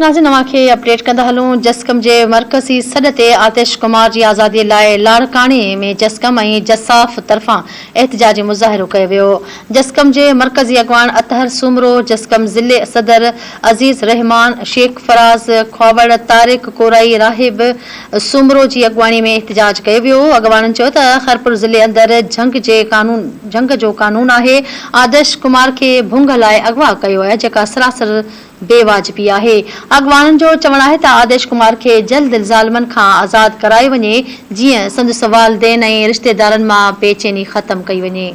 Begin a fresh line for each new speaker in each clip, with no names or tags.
ناظرين اوهان کي اپڊيٽ ڪندا هلون جسقم جي مرڪزي سڏ تي آتش ڪمار جي آزادي لاء لاڙڪاڻي ۾ جسقم ۽ جساف طرفان احتجاجي مظاهرو ڪيو ويو جسقم جي مرڪزي اڳواڻ اطهر سومرو جسقم ضلعي صدر عزيز الرحمان شيخ فراز کهاوڙ طارق ڪورائي راهب سومرو جي اڳواڻي ۾ احتجاج ڪيو ويو اڳواڻن چيو ته خيرپور ضلعي اندر جهنگ جي قانون جهنگ جو قانون آهي آدش ڪمار کي ڀونگ لاء اغوا ڪيو ويو آهي جيڪا سراسر بي واجبي آهي، اڳواڻن جو چوڻ آهي ته آديش ڪمار کي جلد الزالمن کان آزاد ڪرائي وڃي جيئن سندس والدين ۽ رشتيدارن مان بي چيني ختم ڪئي وڃي.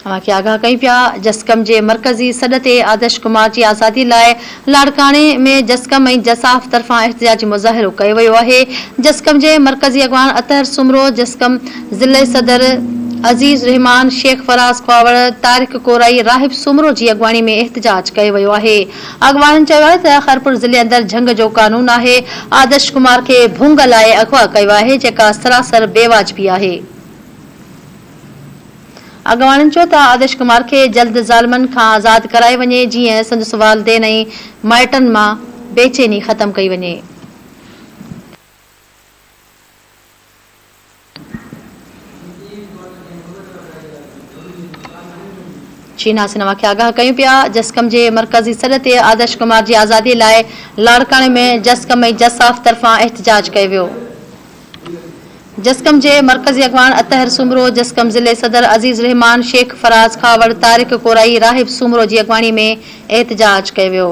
اوهان کي آگاهه ڪيون پيا جسقم جي مرڪزي سڏ تي آديش ڪمار جي آزادي لاء لاڙڪاڻي ۾ جسقم ۽ جساف طرفان احتجاجي مظاهرو ڪيو ويو آهي جسقم جي مرڪزي اڳواڻ اطهر سومرو جسقم ضلعي صدر عزيز رحمان، شيخ فراز ڪاوڙ، طارق ڪورائي، راحب سومرو جي اڳواڻي ۾ احتجاج ڪيو ويو آهي. اڳواڻن چيو آهي ته خيرپور ضلعي اندر جهنگ جو قانون آهي، آدرش ڪمار کي ڀونگ لاء اغوا ڪيو آهي جيڪا سراسر بي واجبي آهي. اڳواڻن چيو ته آدرش ڪمار کي جلد ظالمن کان آزاد ڪرائي وڃي جيئن سندس والدين ۽ مائٽن مان بيچيني ختم ڪئي وڃي. شيناز سنهوا کي آگاهه ڪيون پيا، جسقم جي مرڪزي سڏ تي آدرش ڪمار جي آزادي لاء لاڙڪاڻي ۾ جسقم ۽ جساف طرفان احتجاج ڪيو ويو. جسقم جي مرڪزي اڳواڻ اطهر سومرو، جسقم ضلعي صدر عزيز الرحمان، شيخ فراز کهاوڙ، طارق ڪورائي، راهب سومرو جي اڳواڻي ۾ احتجاج ڪيو ويو.